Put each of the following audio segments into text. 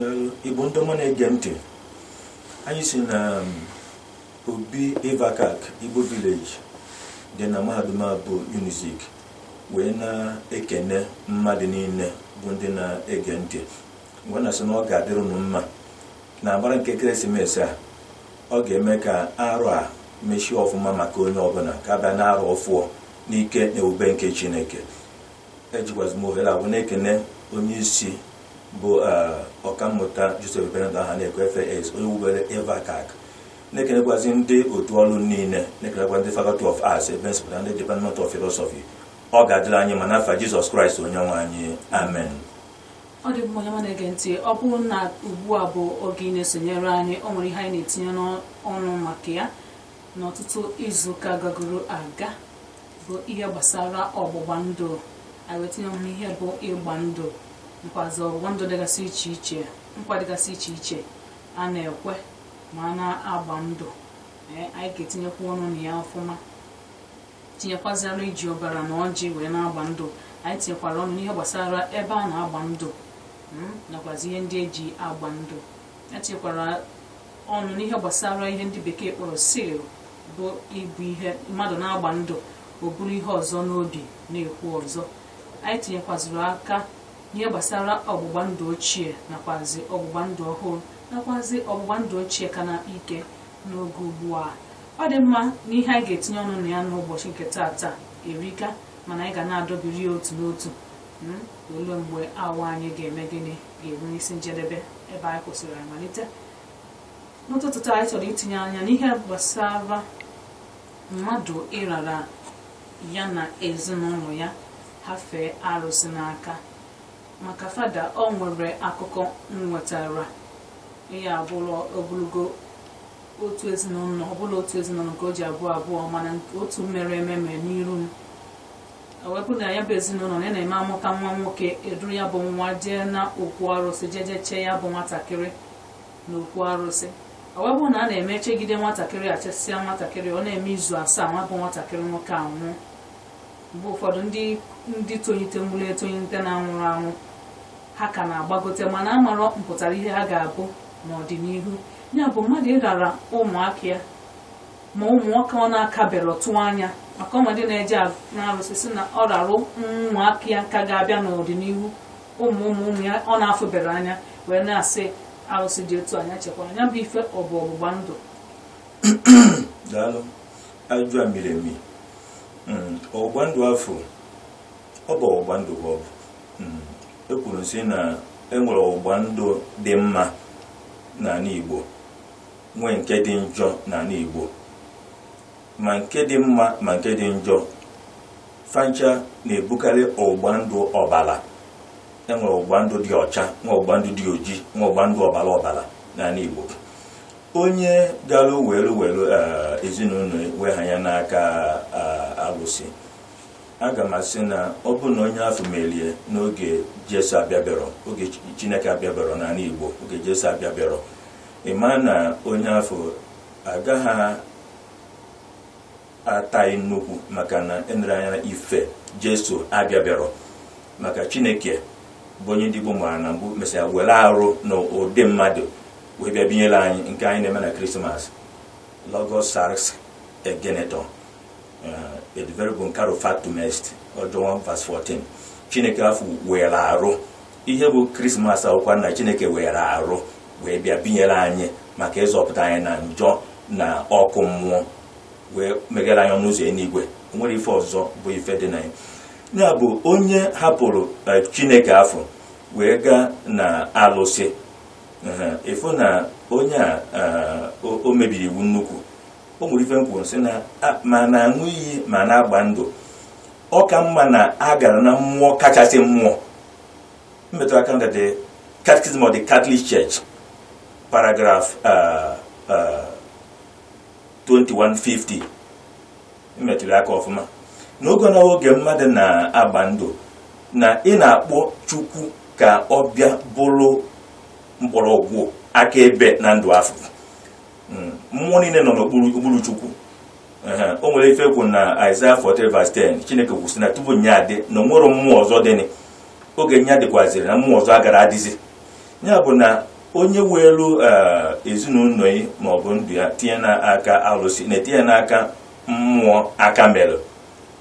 Igbo ndị ọma na-ege ntị anyị si na Obi IVACAC Igbo Village dị na mahadum a bụ Unizik wee na-ekene mmadụ niile bụ ndị na-ege ntị wee na-asị na ọ ga-adịrị unu mma na amara nke ekeresimesi a ọ ga-eme ka arọ a mechie ọfụma maka onye ọbụla ka a bịa na arọ ọfụọ n'ike na ebube nke Chineke ejikwazi m ohere a wee na-ekene onye isi bụ ọkammụta Joseph Eberendu Ahaneku FAS onye wubere IVACAC na-ekenekwazi ndị otu ọrụ niile na-ekenekwa ndị Faculty of Arts ebe m si pụta ndị Department of Philosophy ọ ga-adịrị anyị mma n'afa Jizọs Kraịst onye nwe anyị amen ọ dị mma onye ọma na-ege ntị ọ bụrụ na ugbu a bụ oge ị na-esonyere anyị o nwere ihe anyị na-etinye n'ọnụ maka ya n'ọtụtụ izuụka gagoro aga bụ ihe gbasara ọgbụgba ndụ anyị wee tinye ọnụ n'ihe bụ ịgba ndụ nakwazi ọgbụgba ndụ dịgasị iche iche nkwa dịgasị iche iche a na-ekwe ma a na-agba ndụ ee anyị ga-etinyekwu ọnụ na ya ọfụma tinyekwazịara iji ọbara na ọjị wee na-agba ndụ anyị tinyekwara ọnụ n'ihe gbasara ebe a na-agba ndụ nakwazi ihe ndị eji agba ndụ etinyekwara ọnụ n'ihe gbasara ihe ndị bekee kpọrọ seal bụ ịbụ ihe mmadụ na-agba ndụ o buru ihe ọzọ n'obi na-ekwu ọzọ anyị tinyekwaziri aka n'ihe gbasara ọgbụgba ndụ ochie nakwazi ọgbụgba ndụ ọhụrụ nakwazi ọgbụgba ndụ ochie ka na-akpa ike n'oge ugbu a ọ dị mma na ihe anyị ga-etinye ọnụ na ya n'ụbọchị nke taata erika mana anyị ga na-adọbiri ya otu n'otu ruo mgbe awa anyị ga-eme gịnị ga-eru n'isi njedebe ebe anyị kwụsịrị amalite n'ụtụtụ taa anyị chọrọ itinye anya n'ihe gbasara mmadụ ịrara ya na ezinụlọ ya hafee arụsị n'aka maka fada o nwere akụkọ m nwetara ihe abụrọ ogologo otu ezinụlọ ọ bụrọ otu ezinụlọ nke o ji abụ abụọ mana otu mere eme mere n'iru m o wee bụ na ya bụ ezinụlọ na na-eme amụta nwa nwoke eduru ya bụ nwa jee na okwu arụsị jeje chee ya bụ nwatakịrị na okwu arụsị o wee bụ na a na-eme echegide nwatakịrị achesịa nwatakịrị ọ na-eme izu asaa nwa bụ nwatakịrị nwoke anwụ mgbe ụfọdụ ndị ndị tonyite mgbụrụ etonyite na-anwụrọ anwụ ha ka na-agbagote mana amarọ mpụtara ihe ha ga-abụ n'ọdịnihu ya bụ mmadụ ịrara ụmụaka ya ma ụmụ nwoke ọ na-akabelụ tụọ anya maka ụmụ ndị na-eje na arụsị sị na ọ rarụ ụmụaka ya nke ga-abịa n'ọdịnihu ụmụ ụmụ ụmụ ya ọ na-afụberọ anya wee na-asị arụsị dị otu a nya chekwaa nya bụ ife ọ bụ ọgbụgba ndụ daalụ ajụjụ a miri emi hmm, ọgbụgba ndụ afụ ọ bụ ọgbụgba ndụ ka ọ bụ hmm, ekwuru sị na enwere ọgbụgba ndụ dị mma n'ala Igbo nwee nke dị njọ n'ala Igbo ma nke dị mma ma nke dị njọ fancha na-abụkarị ọgbụgba ndụ ọbara enwere ọgbụgba ndụ dị ọcha nwee ọgbụgba ndụ dị oji nwee ọgbụgba ndụ ọbara ọbara n'ala Igbo onye gara were were eh, ezinụlọ wee ha ya n'aka eh, alụsị aga m asị na ọ bụ na onye afụ mere ya n'oge Jesu abịaberọ oge Chineke abịaberọ n'ala Igbo oge Jesu abịaberọ ị ma na onye afụ agaghị ata ya nnukwu maka na e nere anya na ife jesu abịaberọ maka chineke bụ onye ndị Igbo maara na mbụ mesịa were arụ na ụdị mmadụ wee bịa binyere anyị nke anyị na-eme na krismas logos sarx egeneto eh, et verbum caro factum est John 1 14 chineke afụ were arụ ihe bụ krismas a bụkwa na chineke were arụ wee bịa binyere anyị maka ịzọpụta anyị na njọ na ọkụ mmụọ wee meghere anyị ọnụ ụzọ eluigwe o nwerọ ife ọzọ bụ ife dị na ya ya bụ onye hapụrụ e, chineke afụ wee gaa na alụsị ị fụ na onye a e, o mebiri iwu nnukwu o nwere ife m kwuru sị na ma na-aṅụ iyi ma na-agba ndụ ọ ka mma na a gara na mmụọ kachasị mmụọ m metụ aka na the catechism of the catholic church paragraph uh, uh, 2150 metụrụ aka ọfụma n'oge na oge mmadụ na-agba ndụ na ị na-akpọ chukwu ka ọ bịa bụrụ mkpọrọgwụ akaebe na ndụ afụ hmm, mmụọ niile nọ n'okpuru chukwu o nwere ife e kwu na Aịzaya 40 vs 10 chineke kwu sị na tupu nye adị na o nwerọ mmụọ ọzọ dịnị oge nya dịkwaziri na mmụọ ọzọ agarọ adịzi ya bụ na onye weelu eh, ezinụlọ ya maọbụ ndụ ya tinye n'aka alụsị na-etinye n'aka mmụọ aka mere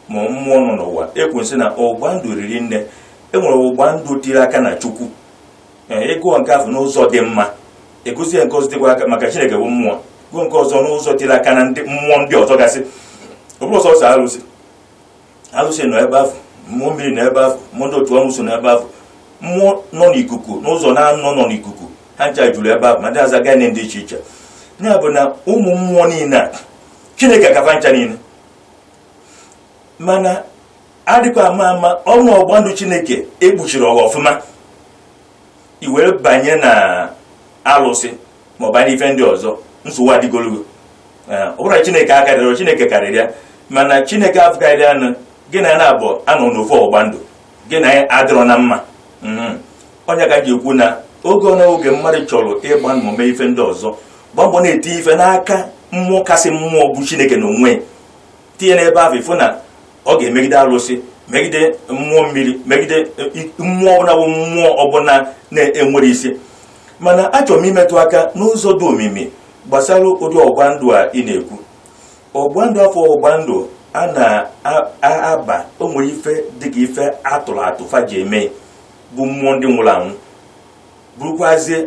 ma mmụọ nọ n'ụwa ekwu m sị na ọgbụgba ndụ riri nne enwere ọgbụgba ndụ tiri aka na chukwu ịgụọ nke afụ n'ụzọ dị mma egozie nke ọzọ dịkwa aka maka chineke bụ mmụọ gụọ nke ọzọ n'ụzọ tiri aka na ndị mmụọ ndị ọzọ gasị ọ bụrụ sọsọ alụsị alụsị nọ ebe afụ mmụọ mmiri nọ ebe afụ mmụọ ndị otu amụsụ nọ ebe afụ mmụọ nọ n'ikuku n'ụzọ na-anọ nọ n'ikuku ha ncha juru ebe afụ ma ndị ọzọ ga dị iche iche ya bụ na ụmụ mmụọ niile a chineke ka fa ncha niile mana adịkwa ama ama ọnụ ọgba ndụ chineke ekpuchirọ gị ọfụma i were banye na alụsị ma ọ banye ife ndị ọzọ nsogbu adịgologo ọ bụrọ na chineke akarịrọ chineke karịrị ya mana chineke afụ karịrị ya nụ gị na ya abụọ anọ n'ofu ọgba ndụ gị na ya adịrọ na mma mhm. ọ ya ka e ji ekwu na oge ọ na oge mmadụ chọrọ ịgba mbọ mee ife ndị ọzọ gba mbọ na-eti ife n'aka mmụọ kasị mmụọ bụ chineke na onwe tinye n'ebe ahụ ị fụ na ọ ga-emegide alụsị megide mmụọ mmiri megide e, mmụọ ọbụla bụ mmụọ ọbụla na-enwerọ isi mana achọrọ m imetụ aka n'ụzọ dị omimi gbasara ụdị ọgba ndụ a ị na-ekwu ọgba ndụ afụ ọgba ndụ a na-aba o nwere ife dịka ife atụrụ atụ fa ji eme bụ mmụọ ndị nwụrụ anwụ bụrụkwazie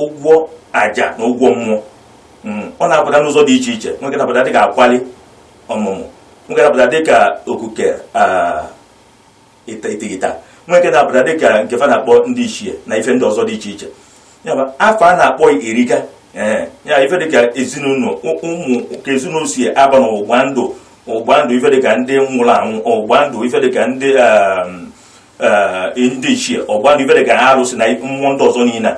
ụgwọ aja na ụgwọ mmụọ hmm, ọ na-apụta n'ụzọ dị iche iche nwee nke na-apụta dịka akwali ọmụmụ nwee nke na-apụta dịka okuke itigita nwee nke na-apụta dịka nke fa na-akpọ ndị ichie na ife ndị ọzọ dị iche iche ya bụ afa a na-akpọ erika ee ya ife dịka ezinụlọ ụmụ ka ezinụlọ si aba na ọgba ndụ ọgba ndụ ife dịka ndị nwụrụ anwụ ọgba ndụ ife dịka ndị ndị ichie ọgba ndụ ife dịka alụsị na mmụọ ndị ọzọ niile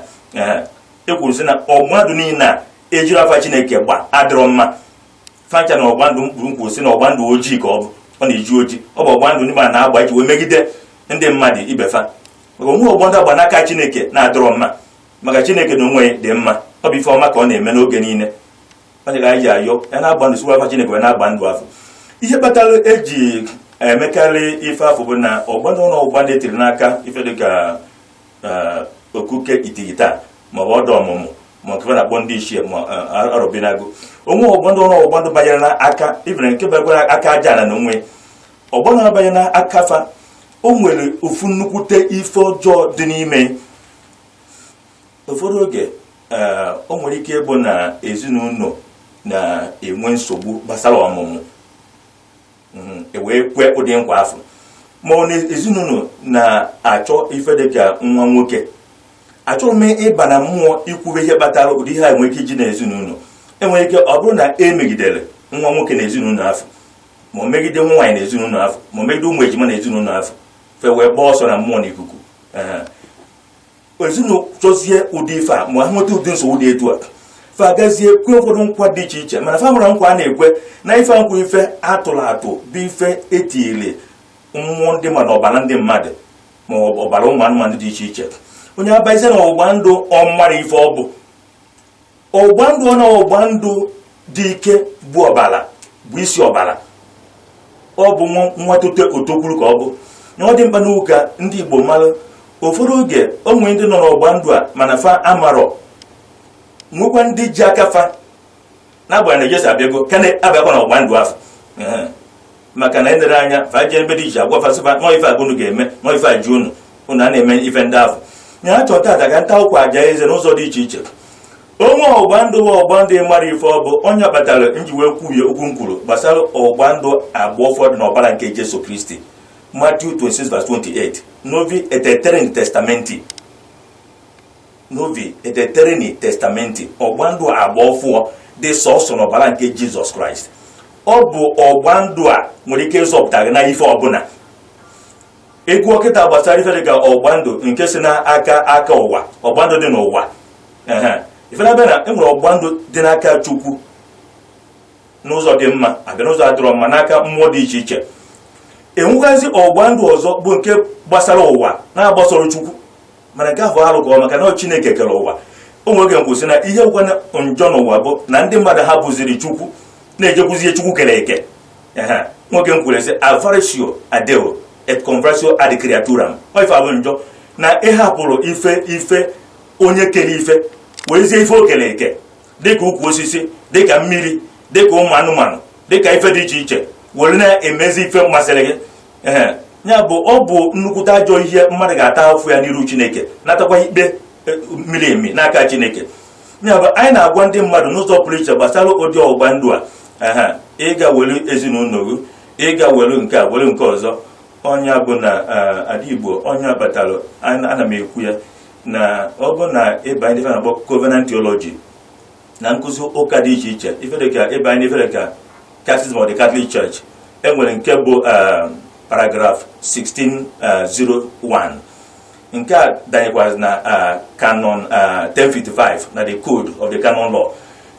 ekwuru sị na ọgba ndụ niile a ejirọ afa chineke gba adịrọ mma fa ncha na ọgba ndụ mkpụrụ okwu sị na ọgba ndụ ojii ka ọ bụ ọ na-eji oji ọ bụ ọgba ndụ ndị mmadụ na-agba iji wee megide ndị mmadụ ibe fa maka o nwe ọgba ndụ agba n'aka chineke na-adịrọ mma maka chineke na onwe dị mma ọ bụ ife ọma ka ọ na-eme n'oge niile ọ ya ka anyị ji ayọ ya na-agba ndụ sikwa afa chineke wee na-agba ndụ afụ ihe kpatara eji emekarị ife afụ bụ na ọgba ndụ ọgba ndụ etiri n'aka ife dịka eh, okuke itigita maọbụ ọdụ ọmụmụ ma nke na-akpọ ndị ichie ma arọbịnagụ o nwe ọgba ndụ ọrụ ọgba ndụ banyere na aka ibere nke banyere aka aja ana na o nwe ọgba ndụ na-abanye na aka fa o nwere ofu nnukwute ife ọjọọ dị n'ime ụfọdụ oge o nwere ike ịbụ na ezinụlọ na-enwe nsogbu gbasara ọmụmụ mm-hmm. e wee kwee ụdị nkwa afụ ma ọ na ezinụlọ na-achọ ife dịka nwa nwoke achọrọ m ịba na mmụọ ikwube ihe kpatara ụdị ihe a nwere ike iji na ezinụlọ enwere ike ọ bụrụ na emegidere nwa nwoke na ezinụlọ afụ ma ọ megide nwa nwaanyị na ezinụlọ afụ ma ọ megide ụmụ ejima na ezinụlọ afụ fa wee gbaa ọsọ na mmụọ na ikuku ezinụlọ chọzie ụdị ife a ma ha nweta ụdị nsogbu dị etu a fa gazie kwe ụfọdụ nkwa dị iche iche mana fa amarọ nkwa a na-ekwe na ife nkwa ife atụrụ atụ bụ ife etiri mmụọ ndị mmadụ ọbara ndị mmadụ ma ọbara ụmụ anụmanụ dị iche iche onye abazie na ọgba ndụ ọ mara ife ọ bụ ọgba ndụ ọ na ọgba ndụ dị ike bụ ọbara bụ isi ọbara ọ bụ nwatote otokwuru ka ọ bụ na ọ dị mkpa nnọọ ka ndị Igbo malụ ụfọdụ oge o nwere ndị nọ n'ọgba ndụ a mana fa amarọ nwekwa ndị ji aka fa n'agbanyeghị na Jesu abịago ka na-abịakwa n'ọgba ndụ afụ maka na enere anya fa je ebe dị iche a gwa fa sị fa nọ ife a ka unu ga-eme nọ ife aji unu unu a na-eme ife ndị afụ nye ha chọta ada ga nta ụkwa aja eze n'ụzọ dị iche iche o nwe ọgba ndụ bụ ọgba ndụ ịmara ife ọ bụ ọ nya kpatara m ji wee kwue okwu m kwuru gbasara ọgba ndụ agba ọfụọ na ọbara nke Jesu Kristi Matthew 26 verse 28 novi et aeterni testamenti novi et aeterni testamenti ọgba ndụ agba ọfụọ dị sọsọ n'ọbara nke jizọs kraịst ọ bụ ọgba ndụ a nwere ike ịzọpụta gị na ife ọbụla e kwuo kịta gbasara ife dịka ọgba ndụ nke si n'aka aka ụwa ọgba ndụ dị n'ụwa ife na-abịa na enwere ọgba ndụ dị n'aka chukwu n'ụzọ dị mma abịa n'ụzọ adịrọ mma n'aka mmụọ dị iche iche enwekwazi ọgba ndụ ọzọ bụ nke gbasara ụwa na agbasarọ chukwu mana nke afụ arụ gụọ maka na chineke kere ụwa o nwe oge m kwu sị na ihe bụkwanụ njọ n'ụwa bụ na ndị mmadụ hapụziri chukwu na-ejekwuzi ihe chukwu kere eke nwoke m kwuru sị aversio a Deo et conversio ad creaturam ife a bụ njọ na ị hapụrụ ife ife onye kere ife werezie ife o kere eke dịka ukwu osisi dịka mmiri dịka ụmụ anụmanụ dịka ife dị iche iche were na-emezi ife masịrị gị ee ya bụ ọ bụ nnukwute ajọ ihe mmadụ ga-ata afụfụ ya n'iru chineke natakwa ikpe e, miri emi n'aka chineke ya bụ anyị na-agwa ndị mmadụ n'ụzọ pụrụ iche gbasara ụdị ọgba ndụ a ehe ịga were ezinụlọ gị ịga were nke a were nke ọzọ onye bụ na eh, ada igbo onye abatara ana m ekwu ya na ọ bụ na ịbanye n'ife a na-akpọ covenant theology na nkụzi ụka dị iche iche ife dịka ịbanye n'ife dịka Catechism of the Catholic Church enwere nke bụ um, paragraph 1601 nke a danyekwara na uh, canon 1055 uh, na the code of the canon law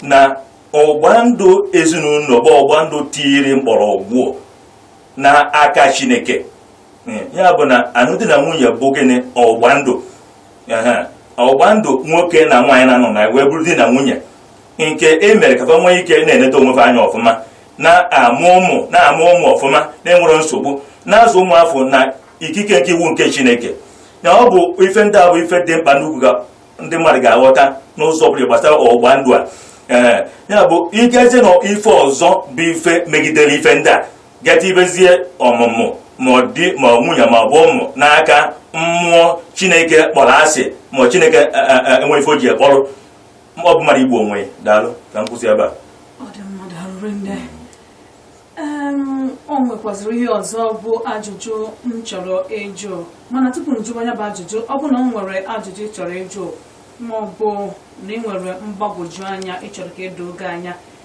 na ọgba ndụ ezinụlọ bụ ọgba ndụ tiri mkpọrọgwụ na aka chineke hmm, ya bụ na anụm di na nwunye bụ gịnị ọgba ndụ ọgbụgba ndụ nwoke na nwaanyị na-anọ na wee bụrụ di na nwunye nke e mere ka fa nwee ike na-eneta onwe fa anya ọfụma na-amụ ụmụ na-amụ ụmụ ọfụma na-enwerọ nsogbu na-azụ ụmụ afụ na ikike nke iwu nke chineke na ọ bụ ife ndị a bụ ife dị mkpa n'ukwu ka ndị mmadụ ga-aghọta n'ụzọ ọbụla gbasara ọgbụgba ndụ a ee ya bụ ikezie na ife ọzọ bụ ife megidere ife ndị a ga-etibezie ọmụmụ ma di ma nwunye ma ọ bụ ụmụ n'aka mmụọ chineke kpọrọ asị ma chineke e, e, e, enwerọ ife o ji ekpọrọ ọ bụ mmadụ igbu onwe ya daalụ ka m kwụsị ebe a o nwekwaziri ihe ọzọ bụ ajụjụ m chọrọ ịjụ mana tupu m jụwa ya bụ ajụjụ ọ bụ na i nwere ajụjụ ị chọrọ ịjụ ma ọ bụ na ị nwere mgbagwoju anya ị chọrọ ka e doo gị anya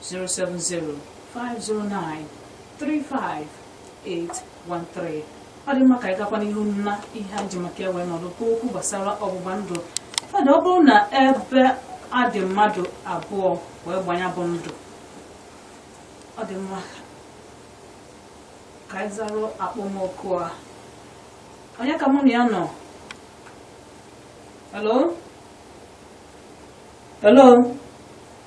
070-509-35813 ọ dị mma ka anyị gakwa n'ihu na ihe anyị ji maka ya wee nọdụ kwuo okwu gbasara ọgbụgba ndụ fada ọ bụrụ na ebe a dị mmadụ abụọ wee gbaa nya bụ ndụ ọ dị mma ka anyị zara akpọmoku a onye ka mụ na ya nọ hello hello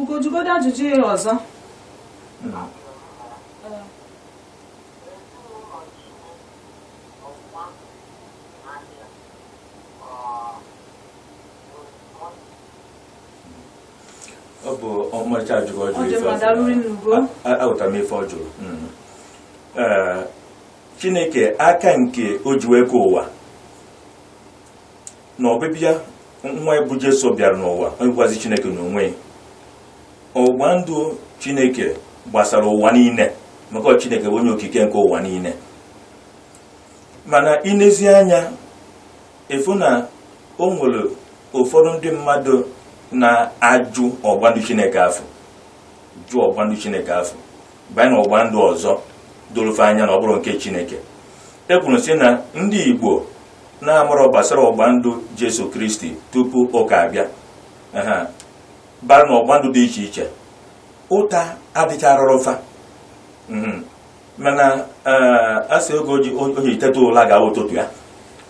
ugo jụgodo ajụjụ ya ọzọ ọ bụ ọmarịcha ajụjụ ọ jụrụ ife aghọtara m ife ọ jụrụ mm. ee chineke aka nke o ji wee kee ụwa na ọbịbịa nwa ya bụ jesu bịara n'ụwa onye bụkwazi chineke n'onwe ya ọgba ndụ chineke gbasara ụwa niile maka chineke bụ onye okike nke ụwa niile mana i nezi anya ị fụ na o nwere ụfọdụ ndị mmadụ na-ajụ ọgbandụ chineke afụ jụọ ọgbandụ chineke afụ banye n'ọgba ndụ ọzọ doro fa anya na ọ bụrọ nke chineke e kwuru sị na ndị igbo na-amụrọ gbasara ọgba ndụ jesu kristi tupu ụka abịa bara na ọgba ndụ dị iche iche ụta adịcharọrọ fa mhm. mana eh, a sị oge o ji o ji teta ụla ga-abụ ụtụtụ ya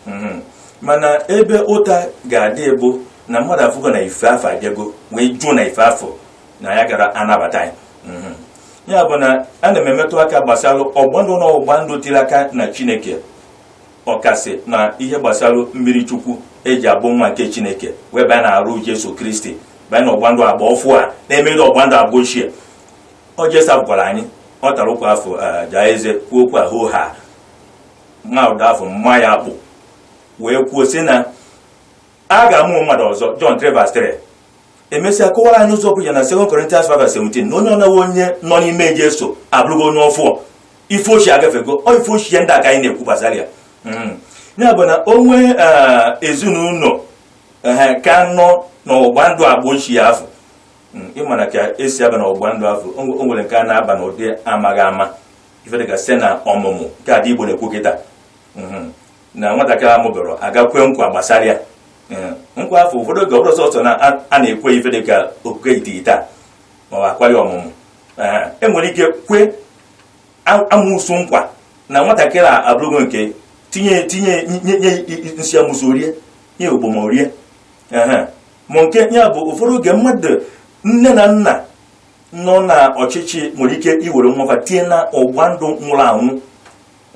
mhm. mana ebe ụta ga-adị bụ na mmadụ afụgo na ife afụ abịago wee jụọ na ife afụ na ya gara anabata anyị mhm. ya bụ na ana m emetụ aka gbasara ọgba ndụ na ọgba ndụ tiri aka na chineke ọkasị na ihe gbasara mmiri chukwu eji abụ nwa nke chineke wee baa n'arụ jesu kristi baa na ọgba ndụ agba ọfụụ na-emeri ọgba ndụ agba ochie ọ jesu gwara anyị ọ tara ụkwa afụ jaa eze kwuo okwu ahụ ha ma ụda afọ mma ya bụ wee kwuo sị na a ga-amụ mmadụ ọzọ John 3:3 emesịa kọwara anyị ụzọ bụ ya na 2 Corinthians 5:17 na onye ọbụna onye nọ n'ime Jesu abụrụgo onye ọfụụ ife ochie agafego ọ ife ochie ndị a ka anyị na-ekwu gbasara ya hmm. ya bụ na o nwe eh, ezinụlọ eh, ka nọ n'ọgbụgba ndụ agba ochie afụ hmm, ị mara ka esi aba n'ọgbụgba ndụ afụ o nwere nke a na-aba n'ụdị amaghị ama ife dịka site na ọmụmụ nke ndị Igbo na-ekwu kịta hmm. na nwatakịrị amụberọ a gaa kwe nkwa gbasara ya eh, nkwa afụ ụfọdụ oge ọ bụrọ sọsọ na a na-ekwe ife dị ka okpukpe itigita ma ọ akwali ọmụmụ eh, e nwere ike kwe amusu nkwa na nwatakịrị abụrụgo nke tinye tinye nye nsi amusu o rie nye ogboma o rie eh, ma nke ya bụ ụfọdụ oge mmadụ nne na nna nọ na ọchịchị nwere ike iwere nwa fa tinye na ọgba ndụ nwụrụ anwụ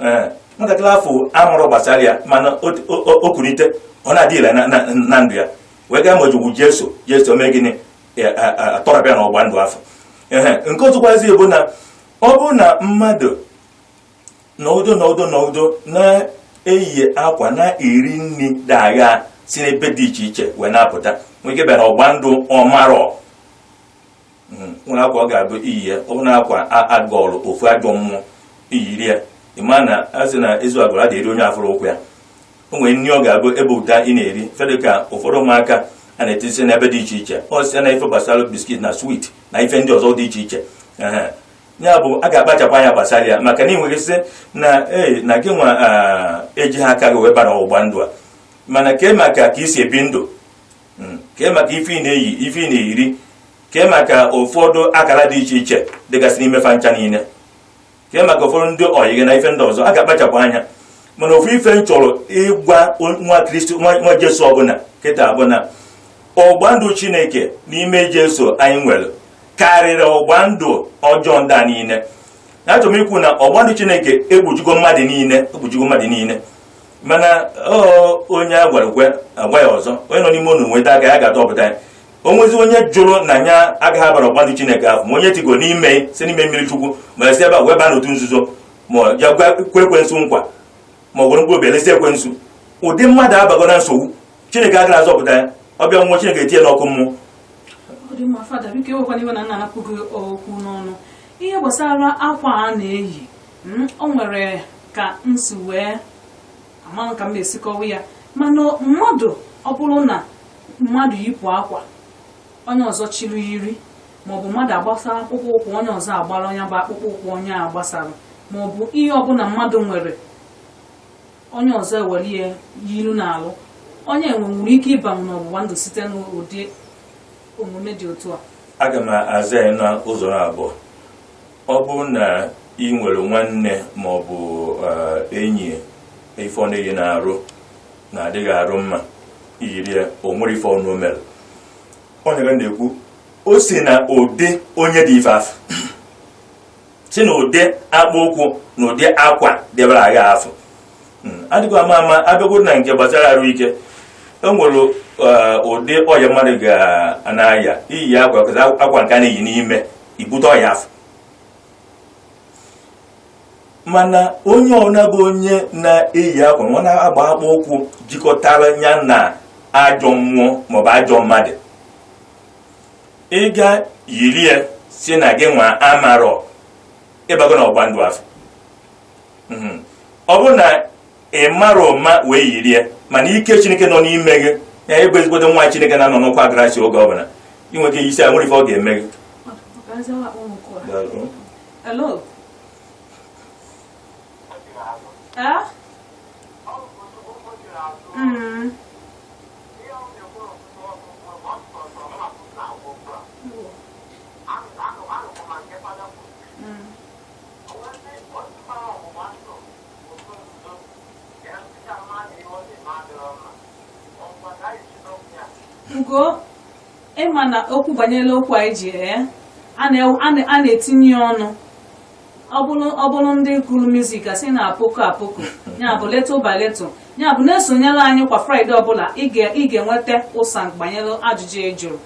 ee nwatakịrị afụ amarọ gbasara ya mana o kulite ọ na-adị ile na ndụ ya wee gaa ma o jekwu jeso jeso mee gịnị atọpụ ya na ọgba ndụ afụ ee nke ọzọkwazị bụ na ọ bụrụ na mmadụ na udo na udo na udo na-eyi akwa na-eri nri dị agha si n'ebe dị iche iche wee na-apụta nwee ike baa na ọgba ndụ ọ marọ hmm, nwere akwa ọ ga-abụ i yi ya ọ bụrụ akwa a gọlụ ofu ajọ mmụọ i yiri ya ị ma na a sị na ezu Agụlụ na-eri onye ọ fụrụ ụkwụ ya o nwere nri ọ ga-abụ ebe ụda ị na-eri ife dịka ụfọdụ ụmụaka a na-etisi n'ebe dị iche iche site na ife gbasara biscuit na sweet na ife ndị ọzọ dị iche iche ya bụ a ga-akpachapụ anya gbasara ya maka na ị nwere ịsị na ee na gị nwa ejighị aka gị wee bara ọgbụgba ndụ a mana kee maka ka i si ebi ndụ hmm, kee maka ife ị na-eyi ife ị na-eyiri kee maka ụfọdụ akara dị iche iche dịgasị n'ime fa ncha niile kee maka ụfọdụ ndị ọyị gị na ife ndị ọzọ a ga-akpachapụ anya mana ofu ife m chọrọ ịgwa nwa kristi nwa jesu ọbụla kịta a bụ na ọgba ndụ chineke n'ime jesu anyị nwere karịrị ọgba ndụ ọjọọ ndị a niile na achọrọ m ikwu na ọgba ndụ chineke egbujugo mmadụ niile egbujugo mmadụ niile mana onye a gwara kwe a gwa ya ọzọ onye nọ n'ime unu nweta aka ya ga-atọpụta ya o nwezi onye jụrụ na ya agaghị abara ọgba ndụ chineke ahụ ma onye tigo n'ime si n'ime mmiri chukwu ma esi ebe a wee baa n'otu nzuzo ma ya gwa kwe ekwensu nkwa ma ọ were mkpụrụ obi e lesi ekwensu ụdị mmadụ a bago na nsogbu chineke agaghị azọpụta ya ọ bịa nwụọ chineke etinye n'ọkụ mmụọ ihe gbasara akwa a na-eyi hmm, o nwere ka m si wee amanụ ka m esi kọwa ya mana mmadụ ọ bụrụ na mmadụ yipụ akwa onye ọzọ chiri yiri maọbụ mmadụ agbasara akpụkpọ ụkwụ onye ọzọ agbara nya bụ akpụkpọ ụkwụ onye a gbasara maọbụ ihe ọbụla mmadụ nwere onye ọzọ ewere ya yiru n'alụ onye enwe nwere ike ịbanwu n'ọgbụgba ndụ site n'ụdị omume dị otu a aga m aza ya n'ụzọ abụọ ọ bụrụ na ị nwere nwanne ma ọ bụ eh, enyi ife ọ na-eyi n'arụ na adịghị arụ mma iyiri ya o nwere ife ọnụ mere onye ga na-ekwu o si na ụdị onye dị ife afụ si na ụdị akpụ ụkwụ na ụdị akwa debara agha afụ hmm, adịghị ama ama a bịagoro na nke gbasara arụ ike o nwere eh, ụdị ọya mmadụ ga na-aya i yie akwa akwa nke a na-eyi n'ime i bute ọya afụ mana onye ọ na-abụ onye na-eyi akwa ma ọ na-agba akpụ ụkwụ jikọtara ya na ajọ mmụọ maọbụ ajọ mmadụ ị gaa yiri ya si na gị nwa amarọ ị bago na ọgba ndụ afụ mhm. ọ bụrụ na ị mara ụma wee yirie mana ike chineke nọ n'ime gị na ị bụ ezigbote nwa chineke na-anọ n'ọkwa grasia oge ọbụla ị nwere ike ịsị enwerọ ife ọ ga-eme gị Hello. Huh? Mm. ugo ị ma na okwu banyere okwu anyị ji ee a na- a na- a na-etinye ọnụ ọ bụrụ ọ bụrụ ndị gụrụ music a sị na a poco a poco ya bụ little by little ya bụ na-esonyere anyị kwa fraịde ọbụla ị ga- ị ga-enweta ụsa banyere ajụjụ ị jụrụ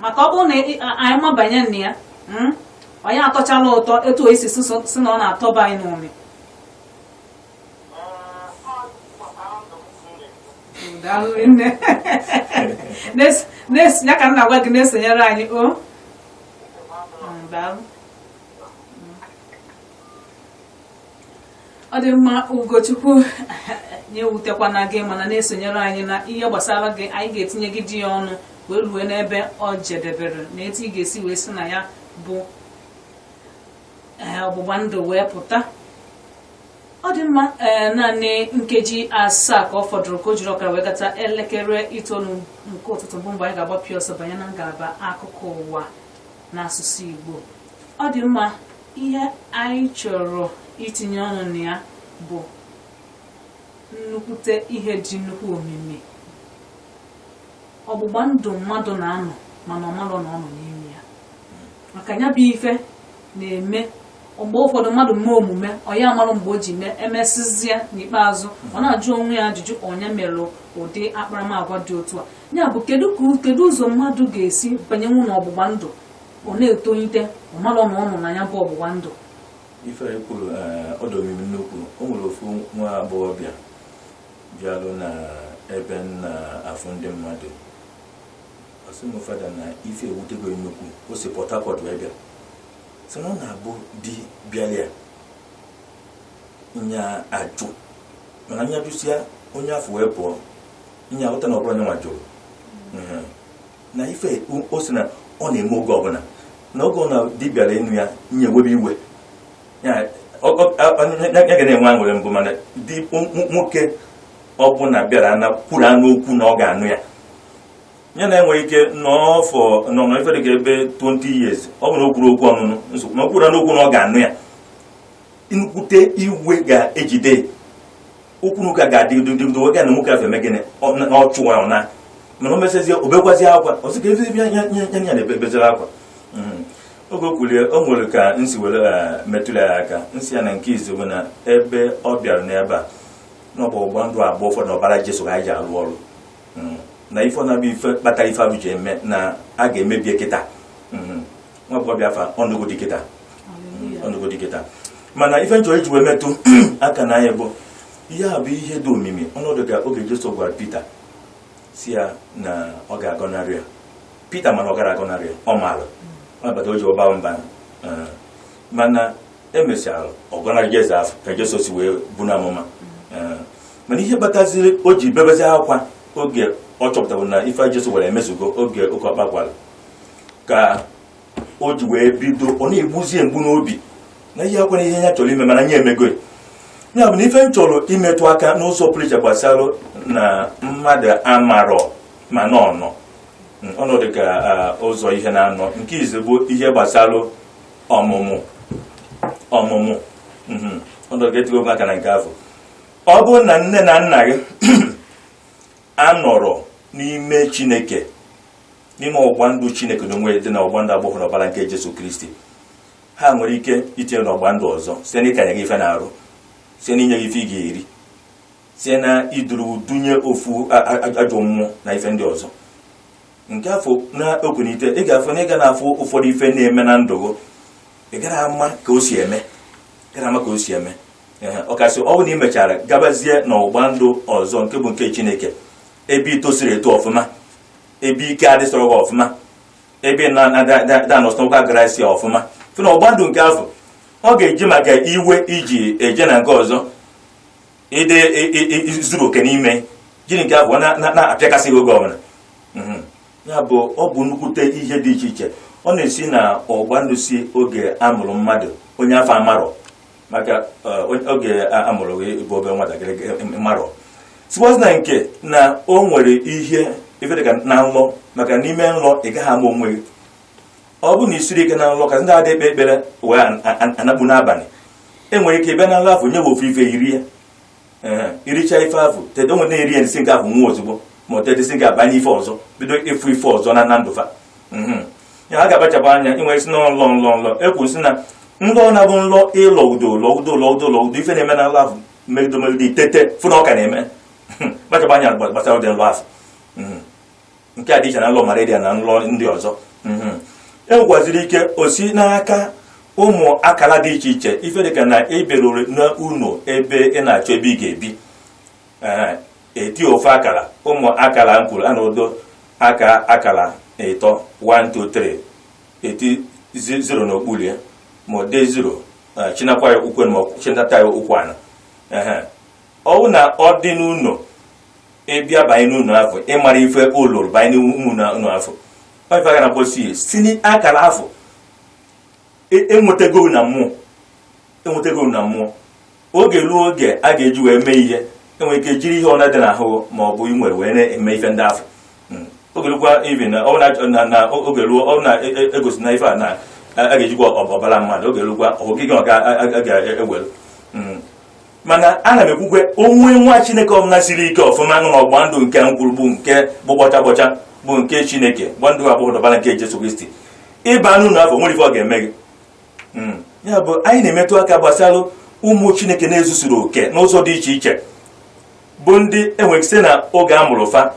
maka ọ bụrụ na anyị mabanye na ya hmm, onye atọchala ụtọ etu i si sị na ọ na-atọba anyị n'ụmị ya ka m na-agwa gị na-esonyere anyị o hmm, ọ dị mma ugochukwu nya ewutekwana gị mana na-esonyere anyị na ihe gbasara gị anyị ga-etinyegide ya ọnụ wee rue n'ebe o jedebere na etu ị ga-esi wee si na ya bụ ọgbụgba ndụ wee pụta ọ dị mma ee eh, naanị nkeji asaa ka ọ fọdụrụ ka o jiri ọkara wee gata elekere itoolu nke ụtụtụ bụ mgbe anyị ga-agbapịa ọsọ banye na ngalaba akụkọ ụwa n'asụsụ Igbo ọ dị mma ihe anyị chọrọ itinye ọnụ na ya bụ nnukwute ihe dị nnukwu omimi ọgbụgba ndụ mmadụ na-anọ mana ọ marọ na ọ nọ n'ime ya maka ya bụ ife na-eme mgbe ụfọdụ mmadụ mee omume ọ ya amarọ mgbe o ji mee e mesịzia n'ikpeazụ ọ na-ajụ onwe ya ajụjụ onye mere ụdị akparamagwa dị otu a ya bụ kedu ka kedu ụzọ mmadụ ga-esi banyenwu n'ọgbụgba ndụ ọ na-etolite ọ marọ na ọ nọ na ya bụ ọgbụgba ndụ ife anyị kwuru ọ dị omimi nnukwu o nwere ofu nwa agbọghọbịa bịalụ na ebe m na-afụ ndị mmadụ ọ sị m fada na ife ewutego nnukwu o si Port Harcourt wee bịa sị na ọ na-abụ di bịara ya nya ajụ mana nya jụsịa onye afụ wee pụọ nya aghọta na ọ bụrọ nyanwa jụrụ na ife o si na ọ na-eme oge ọbụla na oge ọbụla di bịara ịnụ ya nya ewebe iwe ya ga na-enwe aṅụrị mbụ mana di nwoke ọbụla bịara na-ekwurọnụ okwu na ọ ga-anụ ya ya na nwoke afụ nọ na ife dịka ebe 20 years ọ bụrụ o kwurọ okwu ọnụnụ nsogbu na o kwuru nnọọ okwu na ọ ga-anụ ya nnukwute iwe ga-ejide okwu n'ụka ga-adị dịgide wee ga na nwoke afụ eme gịnị na ọ chụa ọ naa mana o mesịzie o bekwazie akwa ọ sị ka ebe ya na-ebe ebeziri akwa hmm. oge o kwulie o nwere ka m si were eh, metụrụ ya aka m sị ya na nke izu bụ na ebe ọ bịara n'ebe a na ọ bụ ọgba ndụ abụọ ụfọdụ na ọbara Jesu ha ji arụ ọrụ hmm. na ife na-abụ ife kpatara ife afụ ji eme na a ga-emebi kịta hmm. nwa agbọghọbịa afụ ọ nụgo di kịta ọ nụgo di kịta mana ife m chọrọ iji wee metụ aka na nya bụ ihe a bụ ihe dị omimi ọ na-adị ka oge Jesu gwara Pita sị ya na ọ ga-agọnarị ya Pita ma na ọ garọ agọnarị ya ọ maara mabata o ji aba mba mana e mesịa ọ gọnarị Jesu afụ ka Jesu si wee buo n'amụma mana ihe kpataziri o ji bebezi akwa oge ọ chọpụtara na ife Jesu kwuru emezugo oge oke ọkpa kwara ka o ji wee bido ọ na-egbuzie mgbu n'obi na ihe akwere ihe ya chọrọ ime mana ya emego ya bụ na ife m chọrọ imetụ aka n'ụzọ pụrụ iche gbasara na mmadụ amarọ ama na ọ nọ ọnọdụ ka ụzọ ihe na-anọ nke izi bụ ihe gbasara ọmụmụ ọmụmụ mhm. ọnọdụ ga-etigo aka na nke afụ ọ bụrụ na nne na nna gị anọrọ n'ime chineke n'ime ọgba ndụ chineke n'onwe dị na ọgba ndụ agba ọhụụ n'ọbara nke jesu kristi ha nwere ike itinye n'ọgba ndụ ọzọ site n'ịkanye gị ife n'arụ site n'inye gị ife ị ga-eri site na iduru dunye ofu ajọ mmụọ na ife ndị ọzọ nke afụ na o kunite ị ga-afụ na ị ga na-afụ ụfọdụ ife na-eme na ndụ gị ị gara ama ka o si eme gara ama ka o si eme ọkasị ọ bụrụ na ị mechara gabazie n'ọgba ndụ ọzọ nke bụ nke chineke ebe ị tosiri eto ọfụma ebe ike adịsọrọ gị ọfụma ebe na-anọsọkwa grace ọfụma fụ na ọgba ndụ nke afụ ọ ga-eji maka iwe i ji eje na nke ọzọ ịdị zuru oke n'ime jiri nke afụ na-apịakasị gị oge ọbụla mhm. ya bụ ọ bụ nnukwute ihe dị iche iche ọ na-esi na ọgba ndụ si oge a mụrụ mmadụ onye afụ amarọ maka eh, oge a mụrụ gị bụ obere nwatakịrị amarọ sikwazi na nke na o nwere ihe ife dịka na nlọ maka n'ime nlọ ị gaghị ama onwe gị ọ bụ na i siri ike na nlọ ka ndị adị ekpe ekpere wee anakpu n'abalị e nwere ike ịbịa na nlọ afụ nye gị ofu ife i rie ya i richa ife afụ teta onwe na-eri erisi nke afụ nwa ozugbo ma ọtedịsị ga abanye ife ọzọ bido ịfụ ife ọzọ na na ndụ fa mhm. ya a ga-akpachapụ anya inwere si na nlọ nlọ nlọ ekwu sị na nlọ na bụ nlọ ịlọ udo lọ udo lọ udo lọ udo ife na-eme na nlọ afụ megide megide i teta fụ na ọ ka na-eme kpachapụ anya gbasara ụdị nlọ afụ mhm. nke a dị iche na nlọ malaria na nlọ ndị ọzọ mhm. e nwekwaziri ike o si n'aka ụmụ akara dị iche iche ife dịka na ị bịaruru n'ụlọ ebe ị na-achọ ebe ị ga-ebi e ti ofu akara ụmụ akara nkwuru a na odo aka akara ịtọ 1 2 3 e ti zero n'okpuru ya ma o de zero e, chinakwa ya ụkwụ ma chinata ya ụkwụ ana ọ bụ na ọ dị n'ụlọ ị bịa banye n'ụlọ afụ ị mara ife ọ rụrụ banye n'ụmụ na ụlọ afụ ife ga na kpọsi ya si n'akara afụ enwetago e na mmụọ enwetago na mmụọ oge ruo oge a ga-eji wee mee ihe e nwere ike jiri ihe ọla dị n'ahụ ma ọ bụ ị nwere wee na-eme ife ndị afụ hmm. oge rukwa ibi na oge ruo ọ na-egosi e, e na ife a na a ga-ejikwa ọbara mmadụ oge rukwa ọgụgịga ọ ga-ewere mana ana m ekwukwe o nwee nwa chineke ọbụla siri ike ọfụma nọ n'ọgba ndụ nke ngwurugbu nke bụ gbọcha gbọcha bụ nke chineke gba ndụ a bụ ọdọ ọbara nke jesu kristi ịba n'ụlọ afụ nwerọ ife ọ ga-eme gị hmm. ya bụ anyị na-emetụ aka gbasara ụmụ chineke na-ezusirọ oke n'ụzọ dị iche iche bụ ndị enwere site na oge a mụrụ fa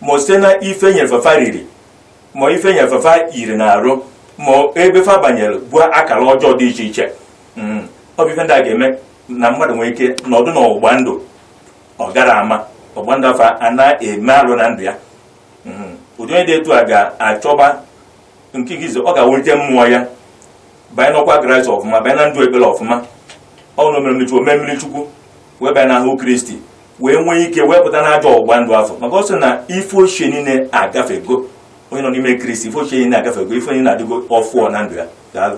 ma site na ife e nyere fa fa riri ma ife e nyere fa fa yiri na arụ ma ebe fa banyere bụ akara ọjọọ dị iche iche hmm. ọ bụ ife ndị a ga-eme na mmadụ nwere ike nọdụ n'ọgbụgba ndụ ọ gara ama ọgbụgba ndụ afụ a na-eme alụ na ndụ ya hmm. ụdị onye dị etu a ga-achọba nke izizi ọ ga-awulite mmụọ ya banye n'ụka kraịst ọfụma banye na ndụ ekpere ọfụma ọ na o merọ mmiri chukwu o mee mmiri chukwu wee banye n'ahụ kristi wee nwee ike wee pụta na ajọ ọgbụgba ndụ afụ maka ọ sị na ife ochie niile agafego onye nọ n'ime kristi ife ochie niile agafego ife niile adịgo ọfụọ na ndụ ya daalụ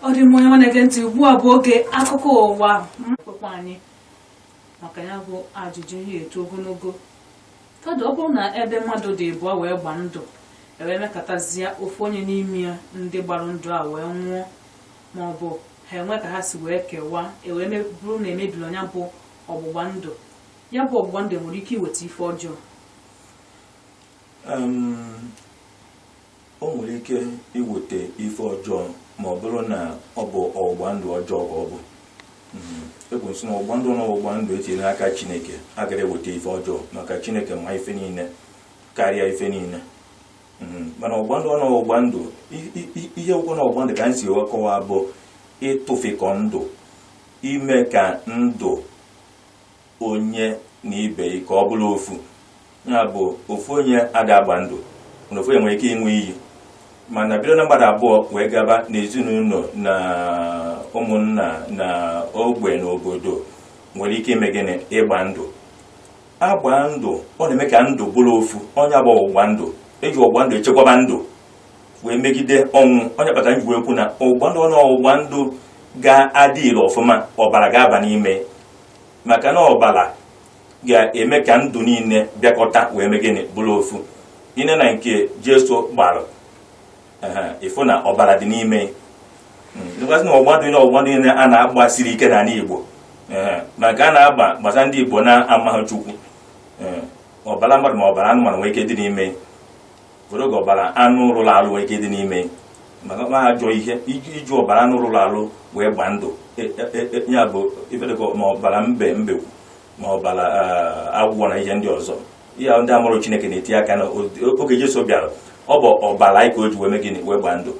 ọ dị mma onye na-ege ntị ugbu a bụ oge akụkọ ụwa mkpekwa anyị maka ya bụ ajụjụ ihe eto ogologo kedụ ọ bụrụ na ebe mmadụ dị ịbụọ wee gba ndụ ewee mekọtazie ofu onye n'ime ya ndị gbara ndụ a wee nwụọ ma ọ bụ ha enwe ka ha si wee kewaa ewee me- bụrụ na emebiri ya bụ ọgbụgba ndụ ya bụ ọgbụgba ndụ nwere ike iweta ife ọjọọ Um, o nwere ike iweta ife ọjọọ ma ọ bụrụ na ọ bụ ọgbụgba ndụ ọjọọ ka ọ bụ hmm. ekwu m sị na ọgbụgba ndụ na ọgbụgba ndụ etinye n'aka chineke agaghị eweta ife ọjọọ maka chineke ma ife niile karịa ife niile hmm. mana ọgbụgba ndụ na ọgbụgba ndụ ihe ukwu na ọgbụgba ndụ ka anyị si kọwa bụ ịtụfekọ ndụ ime ka ndụ onye na ibe ọ bụla ofu ya bụ ofu onye ada agba ndụ na ofu onye nwere ike ịṅụ iyi mana bido na mmadụ abụọ wee gaba n'ezinụlọ na ụmụnna na ogbe na obodo nwere ike ime gịnị ịgba ndụ agba ndụ ọ na-eme ka ndụ bụrụ ofu ọ ya bụ ọgbụgba ndụ eji ọgbụgba ndụ echekwaba ndụ wee megide ọnwụ ọ ya kpatara m ji wee kwu na ọgbụgba ndụ ọ na ọgbụgba ndụ ga-adị ire ọfụma ọbara ga-aba n'ime maka na ọbara ga-eme ka ndụ niile bịakọta wee mee gịnị bụrụ ofu i nee na nke jesu gbara ị fụ na ọbara dị n'ime dịkwasị na ọgba ndụ ọgba ndụ niile a na-agba siri ike n'ala igbo maka a na-agba gbasa ndị igbo na-amaghị chukwu ọbara mmadụ ma ọbara anụmanụ nwere ike dị n'ime were oge ọbara anụ rụrụ alụ nwere ike dị n'ime maka ma ajọ ihe iji ọbara anụ rụrụ alụ wee gbaa ndụ e, e, e, ya bụ ife dị ka ma ọbara mbe mbekwu ma ọbara agwọ na ihe ndị ọzọ ya ndị amarọ chineke na-eti aka na oge jesu bịara ọ bụ ọbara ya ka o ji wee mee gịnị wee gbaa ndụ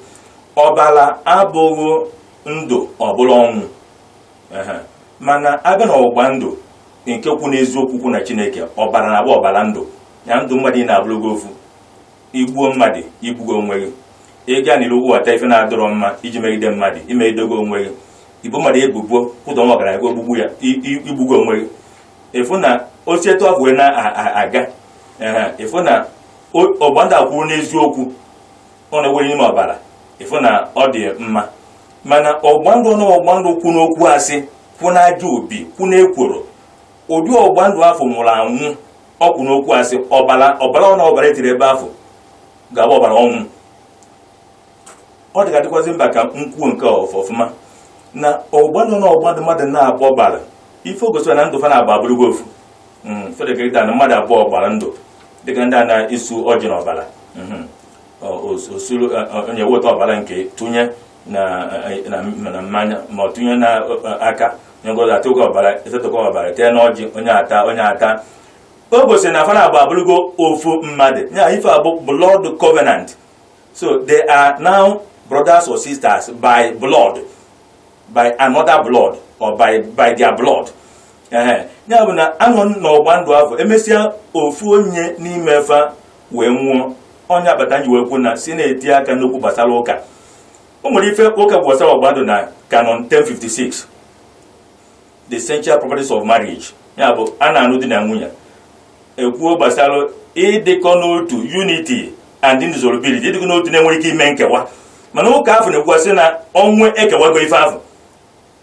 ọbara abụghị ndụ ọ bụrụ ọnwụ mana abịa na ọgba ndụ nke kwụ na eziokwu kwụ na chineke ọbara na-abụ ọbara ndụ ya ndụ mmadụ naabọ abụrụgo ofu igbuo mmadụ igbugo onwe gị ị gaa na ilu kpata ife na-adịrọ mma iji megide mmadụ imegidogo onwe gị ibo mmadụ ebubo kwado nwa ọgaranya gị ogbugbu ya igbugo onwe gị ịfụ na o si etu ahụ wee na-aga ịfụ na ọgba ndụ a kwụrụ n'eziokwu ọ na-enwe n'ime ọbara ịfụ na ọ dị mma mana ọgba ndụ na ọgba ndụ kwụ n'okwu asị kwụ n'ajọ obi kwụ n'ekworo ụdị ọgba ndụ afụ nwụrụ anwụ ọ kwụ n'okwu asị ọbara ọbara ọ na ọbara etiri ebe afụ ga-abụ ọbara ọnwụ ọ dị adịkwazi mma ka m kwuo nke ọfụma na ọgba ndụ na ọgba ndụ mmadụ naabọ gbara ife o gosiri na ndụ fa naabọ abụrụgo ofu hmm, ife dịka kịta na mmadụ abụọ gbara ndụ dịka ndị a na-esu ọjị na ọbara hmm. o suru onye weta ọbara nke tụnye na mmanya ma ọ tụnye n'aka nyegola atụgo ọbara esetụgo ọbara tee n'ọjị onye ata onye ata o gosiri na fa naabọ abụrụgo ofu mmadụ ya ife a bụ blood covenant so they are now brothers or sisters by blood by another blood or by by their blood ya bụ na a nọ n'ọgba ndụ afụ emesịa ofu onye n'ime fa wee nwụọ ọ nya kpata m ji wee kwuo na si na-eti aka n'okwu gbasara ụka o nwere ife ụka gbasara ọgba ndụ na canon 1056 the essential properties of marriage ya bụ a na-anụ di na nwunye ekwuo gbasara ịdịkọ n'otu unity and indissolubility ịdịkọ n'otu na enwerọ ike ime nkewa mana ụka afụ na-ekwukwa sị na ọnwụ ekewago ife afụ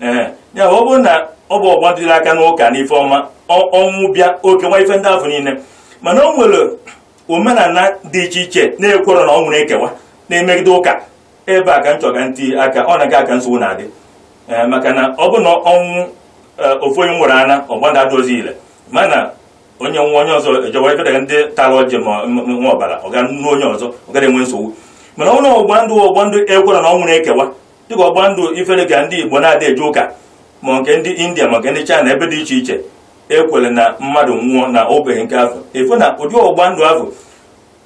ee ya ọ bụrụ na ọ bụ ọgba ndụ a gba n'ụka n'ife ọma ọnwụ bịa o kewaa ife ndị afụ niile mana o nwere omenala dị iche iche na-ekwerọ na ọnwụ na-ekewa na-emegide ụka ebe a ka m chọga iti aka ọ nga a ka nsogbu na-adị eh, maka na ọ bụ na ọnwụ eh, ofu onye nwụrụ na ọgba ndụ adịrọzi ile mana onye nwa onye ọzọ ejewa ife dịka ndị tara ọjị ma ṅụọ ọbara ọ gaa nụọ onye ọzọ ọ garọ enwe nsogbu mana ọ bụ na ọgba ndụ ọgba ndụ ekwerọ na ọnwụ na-ekewa dịka ọgba ndụ ife dịka ndị igbo na-adị eje ụka ma nke ndị india ma nke ndị china ebe dị iche iche ekwere na mmadụ nwụọ na o beghị nke afụ ịfụ na ụdị ọgba ndụ afụ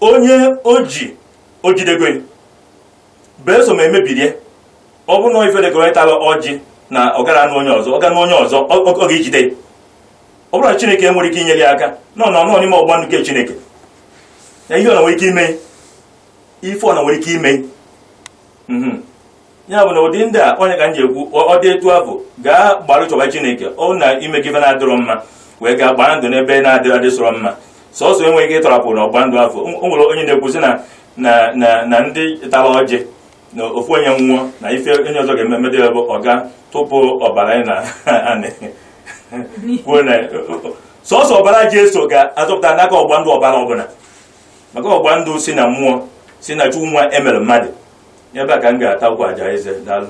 onye o ji o jidego be sọ ma emebiri ya ọ bụrụ na ife dịka onye tara ọjị na ọ garọ anụ onye ọzọ ọ gaa nụọ onye ọzọ ọ ga-ejide ọ bụrụ na chineke nwere ike inyere ya aka nọ na ọ nọ n'ime ọgba ndụ nke chineke na ihe ọ na-enwerọ ike ime ife ọ na-enwerọ ike ime mhm. ya bụ na ụdị ndị a ọ ya ka m ji ekwu ọ dị etu afọ gaa gbarụ chọwa chineke ọ na-eme gị na ọ dịrọ mma wee gaa gbaa ndụ n'ebe na-adịrọ adịsọrọ mma sọsọ ya nwere ike ịtọrapụ na ọgba ndụ afọ o nwere onye na-ekwuzi na na ndị tara ọjị na ofu onye nwụọ na ife onye ọzọ ga-eme medebe bụ ọ gaa tụpụ ọbara anyị na anị kwuo na sọsọ ọbara Jesu ga-azọpụta n'aka ọgba ndụ ọbara ọbụla maka ọgba ndụ si na mmụọ si na chukwu nwa emere mmadụ ebe a ka m ga-ata ụkwa jaa eze daalụ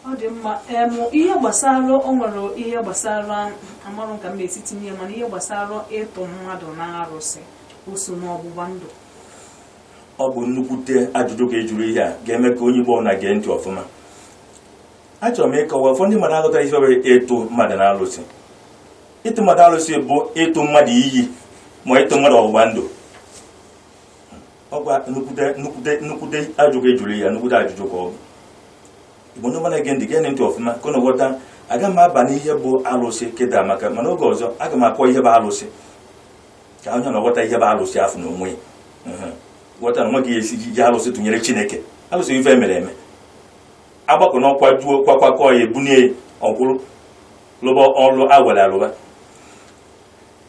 ọ dị mma em ihe gbasara o nwere ihe gbasara amarọ ka m ga-esi tinye mana ihe gbasara ịtụ mmadụ na arụsị o so n'ọgbụgba ndụ ọ bụ nnukwute ajụjụ ka ị jụrụ ihe a ga-eme ka onye ọbụna gee ntị ọfụma achọrọ m ịkọwa ụfọdụ ndị mmadụ aghọtarọ ihe bụ ịtụ mmadụ na alụsị ịtụ mmadụ alụsị bụ ịtụ mmadụ iyi ma ịtụ mmadụ ọgbụgba ndụ ọkwa nnukwute ajụjụ ị jụrụ ya nnukwute ajụjụ ka ọ bụ igbo ndị ọma na-ege ntị gee ntị ọfụma ka ụnụ ghọta agarọ m aba n'ihe bụ alụsị kịta maka mana oge ọzọ aga m akọ ihe bụ alụsị ka onye ọbụna ghọta ihe bụ alụsị afọ na onwe ya ghọta na enweghị isi iji alụsị tụnyere chineke alụsị ife e mere eme agbakọ n'ọkwa juo kwakwakọ ya ebunie ọ kwụrụ lụba ọlụ agwara ya lụba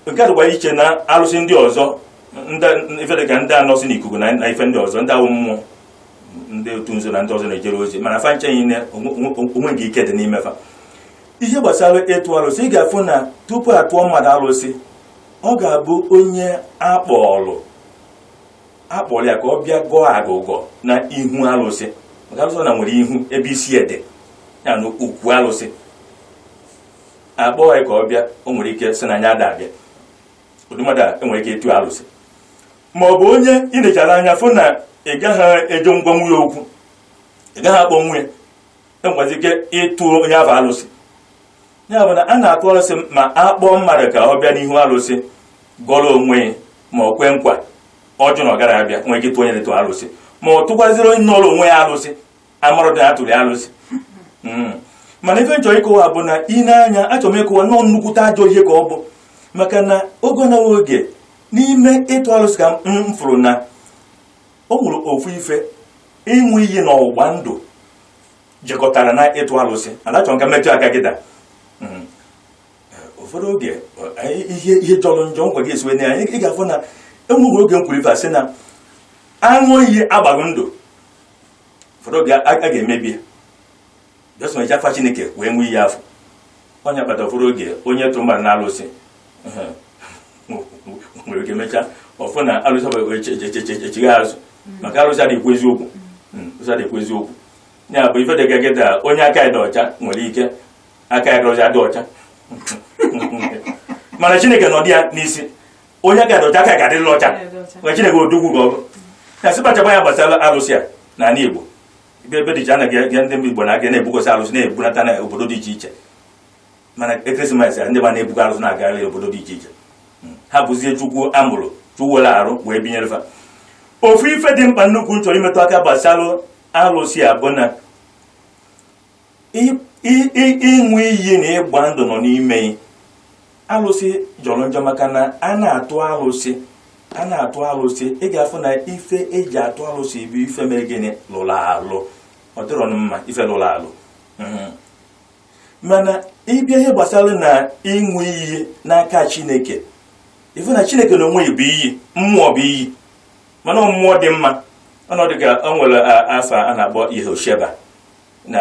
nke a dịkwa iche na alụsị ndị ọzọ ife dịka ndị a nọsi n'ikuku na ife ndị ọzọ ndị a wụ mmụọ ndị otu nzuzo na ndị ọzọ na-ejere ozi mana fa ncha niile o nweghị ike dị n'ime fa ihe gbasara ịtụ alụsị ị ga-afụ na tupu atụọ mmadụ alụsị ọ ga-abụ onye akpọọlụ a kpọrọ ya ka ọ bịa gọọ agụgọ na ihu alụsị maka alụsị na nwere ihu ebe esi ede ya na ukwu alụsị akpọọ ya ka ọ bịa o nwere ike sị na nya ada abịa ụdị mmadụ a enwere ike ịtụ alụsị ma ọ bụ onye ị nechara anya fụ na ị gaghị eje gwanwu ya okwu ị gaghị akpọnwu ya enwere ike ịtụ onye afọ alụsị ya bụ na a na-atụ alụsị ma a kpọọ mmadụ ka ọ bịa n'ihu alụsị gọrọ onwe ma ọ kwe nkwa ọ jụ na ọ garọ abịa enwee ike tụọ onye nọ etu a alụsị ma ọ tụkwaziri onye nọrọ onwe ya alụsị amarọdị atụrụ ya alụsị hmm. mana ife m chọrọ ịkọwa bụ na ị nee anya achọrọ m ịkọwa na ọ nnukwute ajọ ihe ka ọ bụ maka na oge na oge n'ime ịtụ alụsị ka m fụrụ na o nwere ofu ife ịṅụ iyi na ọgbụgba ndụ jekọtara na ịtụ alụsị a na-achọ ka m metụ aka kịta hmm. ụfọdụ oge ihe ihe jọrọ njọ ọkwa gị nesiwe anya ị ga-afụ na enweghị oge m kwuru ife sị na aṅụọ iyi agbaghị ndụ ụfọdụ oge a ga-emebi jọs eji afa chineke wee ṅụọ iyi afụ ọ ya kpata ụfọdụ oge onye tụrụ mmadụ na alụsị nwere ike mechaa ọ fụ na alụsị ọbụla echigha azụ maka alụsị adịghị ekwu eziokwu hmm, alụsị adịghị ekwu eziokwu ya bụ ife dịga gịda onye aka ya dị ọcha nwere ike aka ya adịrọzi adị ọcha mana chineke nọ dị ya n'isi onye aka ya dị ọcha aka ga-adịrị ya ọcha maka chineke odogwu ka ọ bụ na sị kpachakwa anya gbasara alụsị a na ala igbo ibe ebe dị iche anaghị ege ndị mba igbo na-aga na-ebugasị arụsị na-ebunata na obodo dị iche iche mana ekeresimesi a ndị ma na-ebuga arụsị na-agagharị obodo dị iche iche hmm. hapụzie chukwu a mụrụ chukwu were arụ wee binyere fa ofu ife dị mkpa nnukwu m chọrọ imetụ aka gbasalụ alụsị a bụ na ịṅụ iyi na ịgba ndụ nọ n'ime ya alụsị jọrọ njọ maka na a na-atụ alụsị a na-atụ alụsị ị ga-afụ na ife eji atụ alụsị bụ ife mere gịnị lụrụ alụ ọ dịrọ mma ife lụrụ alụ mhm. mana ị bịa ihe gbasara na ịṅụ iyi n'aka chineke ị fụ na chineke na onwe ya bụ iyi mmụọ bụ iyi mana mmụọ dị mma ọnọdụ ka o nwere afa a na-akpọ Yehosheba na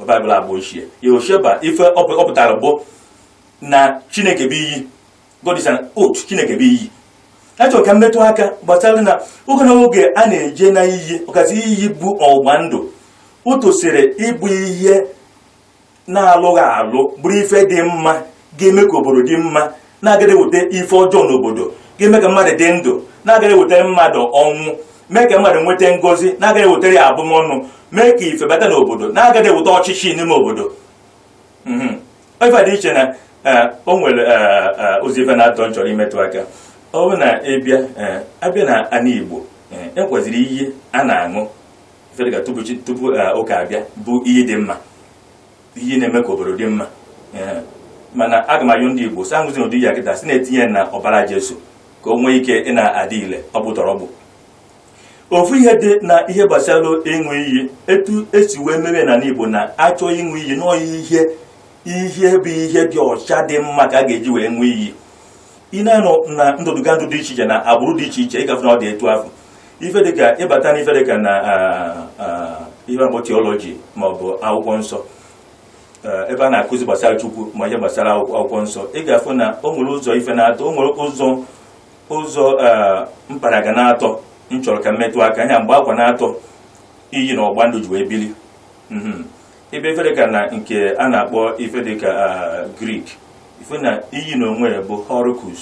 baịbụl agba ochie yehosheba ife ọ pụtara bụ na chineke bụ iyi god is an oath chineke bụ iyi achọrọ m ka m metụ aka gbasara na oge na oge a na-eje na iyi ọkasị iyi bụ ọgba ndụ o tosiri ịbụ ihe na-alụghị alụ bụrụ ife dị mma ga-eme ka obodo dị mma na-agaghị eweta ife ọjọọ n'obodo ga-eme ka mmadụ dị ndụ na-agaghị ewetara mmadụ ọnwụ mee ka mmadụ nweta ngọzi na-agaghị ewetara ya abụmọnụ mee ka ife bata n'obodo na-agaghị eweta ọchịchị n'ime obodo mhm. ife dị iche na eh, o nwere eh, eh, ụzọ ife na-atọ m chọrọ imetụ aka ọ bụ na ị bịa abịa na ana Igbo ekwesịrị iyi a na-aṅụ ife dịka tupu chi- tupu eh, ụka abịa bụ iyi dị mma iyi na-eme ka obodo dị mma Eh, mana aga m ayọ ndị igbo sị a ṅụzi n'ụdị ya kịta sị na-etinye ya na ọbara jesu ka o nwee ike ịna-adị ile ọ bụ tọrọ bụ ofu ihe dị na ihe gbasara ịṅụ iyi etu esi wee mere n'ala igbo na a chọọ ịṅụ iyi na ọ ihe ihe bụ ihe dị ọcha dị mma ka a ga-eji wee ṅụọ iyi ị na-anọ na ndụdụgandụ dị iche iche na agbụrụ dị iche iche ị ga-afụ na ọ dị etu afụ ife dịka ị bata n'ife dịka na ihe bụ theology ma ọ bụ akwụkwọ nsọ ebe a na-akụzi gbasara chukwu ma ihe gbasara akwụkwọ nsọ ị ga-afụ na o nwere ụzọ ife na-atọ o nwere ụzọ ụzọ mparaga na-atọ m chọrọ ka m metụ aka na ya mgbe akwa na-atọ iyi na ọgba ndụ ji wee bili mhm. ebe ife dịka na nke a na-akpọ ife dịka grik ị fụ na iyi na onwe bụ horkos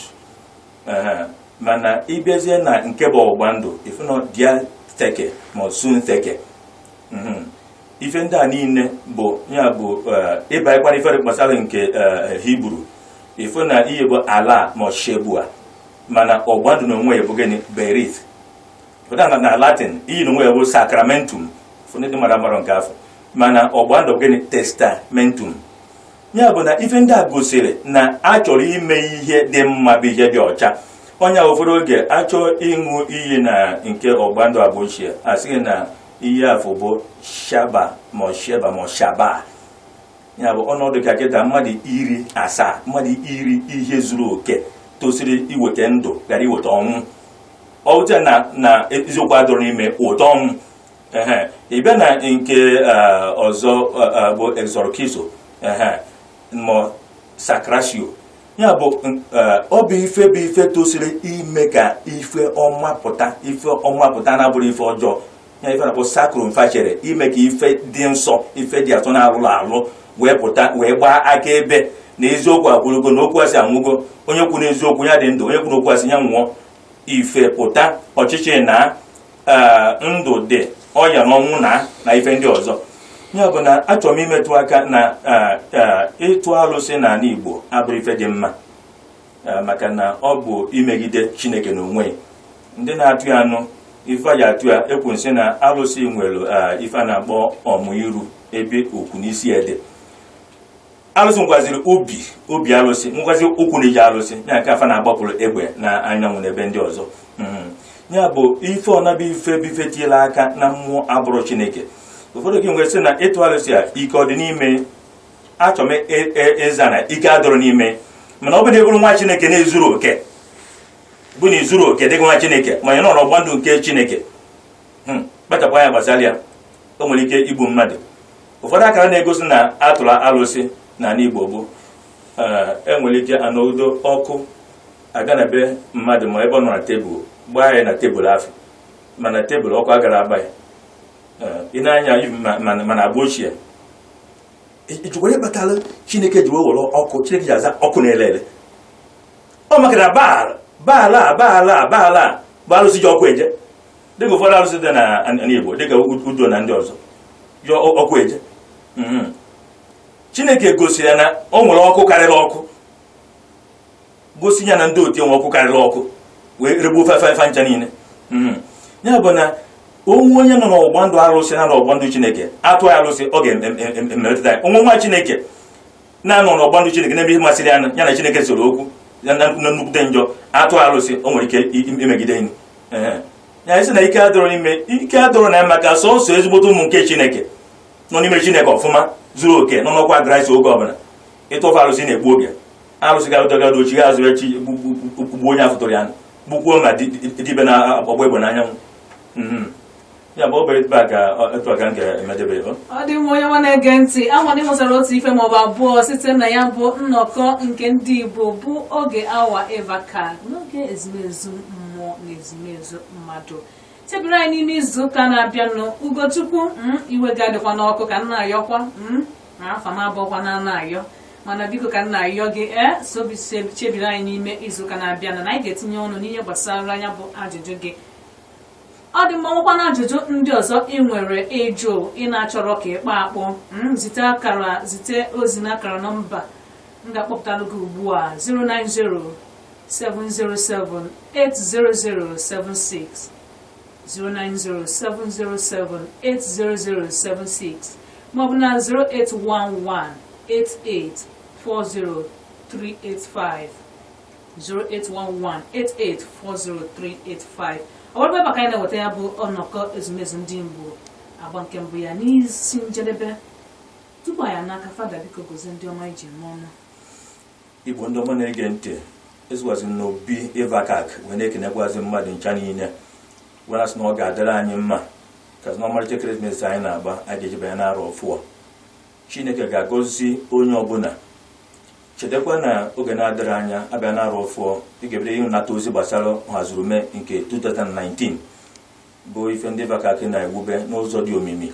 mana ị bịazie na nke bụ ọgba ndụ ị fụ na diatheke ma suntheke mhm. ife ndị a niile bụ ya bụ ị bakwa na ife gbasara nke hibru ị fụ na iyi bụ ala ma shebua mana ọgba ndụ na onwe bụ gịnị berit pụta na na latin iyi na onwe ya bụ sakramentum fụ ndị dị mara mara nke afụ mana ọgba ndụ gịnị testamentum ya bụ na ife ndị a gosiri na a chọrọ ime ihe dị mma bụ ihe dị ọcha onye a ụfọdụ oge achọọ ịṅụ iyi na nke ọgba ndụ agba ochie a sị gị na iyi afụ bụ shaba ma sheba ma shaba ya bụ ọ na-adị ka kịta mmadụ iri asaa mmadụ iri ihe zuru oke tosiri iweta ndụ ghara iweta ọnwụ o wete na eziokwu adịrọ n'ime ụtọ m ehe ị bịa na nke eh, ọzọ eh, eh, bụ exorciso ehe mọ sakrasio ya bụ n- eh, ọ bụ ife bụ ife tosiri ime ka ife ọma pụta ife ọma pụta na-abụrọ ife ọjọọ ya ife a na-akpọ sakrum facere ime ka ife dị nsọ ife dị asọ na-alụrọ alụ wee pụta wee gbaa akaebe na eziokwu akwụrụgo na okwu asị anwụgo onye kwuru eziokwu ya dị ndụ onye kwuru okwu asị ya nwụọ ife pụta ọchịchị naa eh, ndụ dị ọya na ọnwụ naa na ife ndị ọzọ ya bụ na achọrọ m imetụ aka na eh, eh, ịtụ alụsị n'ala Igbo abụrọ ife dị mma maka na ọ bụ imegide Chineke na onwe ya ndị na-atụ ya anụ ife a ji atụ ya ekwu sị na alụsị nwere ife a na-akpọ ọmụ iru ebe okwu n'isi ede alụsị nwezịrị obi obi alụsị nwezị ụkwụ na-eji alụsị ya nke afa na-agbapụrụ egbe na anyanwụ n'ebe ndị ọzọ hmm. ya bụ ife ọ na-abụ ife bụ ife tiela aka na mmụọ abụrọ chineke ụfọdụ ga-ewere sị na ịtụ alụsị a ike ọ dị n'ime achọ m ịza e, e, na ike adịrọ n'ime mana ọ bụ na ị bụrụ nwa chineke na-ezuru oke bụ na i zuru oke dịka nwa chineke ma ị nọ n'ọgba ndụ nke chineke hmm, kpachapụ anya gbasara ya o nwere ike igbu mmadụ ụfọdụ akara na-egosi na a tụrụ alụsị na ala igbo bụ e nwere ike anọdụ ọkụ aga na be mmadụ ma ebe ọ nọ na tebụl gbaa ya na tebụl afụ mana tebụl ọkụ aghara agba ya ị nee anya ma na agba ochie ị jụkwa ife kpatara chineke ji wee were ọkụ chineke ji aza ọkụ na-ele ele ọ maka na baal baal a baal a baal a bụ arụsị ji ọkụ eje dịka ụfọdụ arụsị dị na Igbo dịka udo na ndị ọzọ ji ọkụ eje mhm. Chineke gosiri ya na o nwere ọkụ karịrị ọkụ gosi ya na ndị otu enwe ọkụ karịrị ọkụ wee regbuo fefefe ncha niile mhm. ya bụ na o nwee onye nọ n'ọgba ndụ arụsị na n'ọgba ndụ Chineke a tụọ ya arụsị ọ ga-emetụta ya o nwee nwa Chineke na-anọ n'ọgba ndụ Chineke na-eme ihe masịrị ya ya na Chineke soro okwu na nnukwute njọ a tụọ alụsị o nwere ike imegide enyi ya isi na ike adịrọ n'ime ike adịrọ na maka sọsọ ezigbote ụmụ nke Chineke nọ n'ime Chineke ọfụma zuru oke nọ n'ọkwa grace oge ọbụla ị tụọ fa alụsị na-egbu oge alụsị ga dọgado o chigha azụ ya chi gbugbuo onye afụ tụrụ ya gbukwuo ma dibịa na ọgbọ egbe n'anyanwụ mm-hmm. ya bụ obere ebe a ka etu aga m ga-emedebe ego ọ dị mma onye nwa na-ege ntị ama m na ị mụtara otu ife maọbụ abụọ site na ya bụ nnọkọ nke ndị Igbo bụ oge awa IVACAC n'oge ezumezu mmụọ na ezumezu mmadụ chebiri anyị n'ime izu ụka na-abịanụ ugochukwu mm, iwe gị adịkwana ọkụ ka m na-ayọkwa mm, na afa m abụrọkwa na Anayọ mana biko ka m na-ayọ gị ee sobi chebiri anyị n'ime izu ụka na-abịanụ na anyị ga-etinye ọnụ n'ihe gbasara nya bụ ajụjụ gị ọ dị mma o nwekwana ajụjụ ndị ọzọ ị nwere ịjụ ị na-achọrọ ka ị kpọọ akpọ mm, zite akara zite ozi na akara nọmba m ga-akpọpụtalụ gị ugbu a 090-707-80076 090-707-80076 maọbụ na 08118840385 08118840385 ọ bụrụkwa ebe a ka anyị na-eweta ya bụ nnọkọ ezumezu ndị Igbo agba nke mbụ ya n'isi njedebe tupu anyị naa ka fada biko gozie ndị ọma e ji eme ọnụ igbo ndị ọma na-ege ntị esikwazi na obi IVACAC wee na-ekenekwazi mmadụ ncha niile wee na-asị na ọ ga-adịrị anyị mma kasị na ọmarịcha ekeresimesi anyị na-agba anyị ga-ejebe ya n'arọ ọfụọ chineke ga-agọzi onye ọbụla chetakwa na oge na-adịrọ anya a bịa na arọ ọfụọ ị ga-ebido ịnata ozi gbasara ọhazurume nke 2019 bụ ife ndị IVACAC na-ewube n'ụzọ dị omimi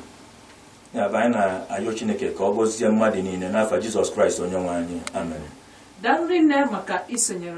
ya bụ anyị na-ayọ chineke ka ọ gọzie mmadụ niile n'afa jizọs kraịst onye nwe anyị amen Daalụ rinne maka isonyere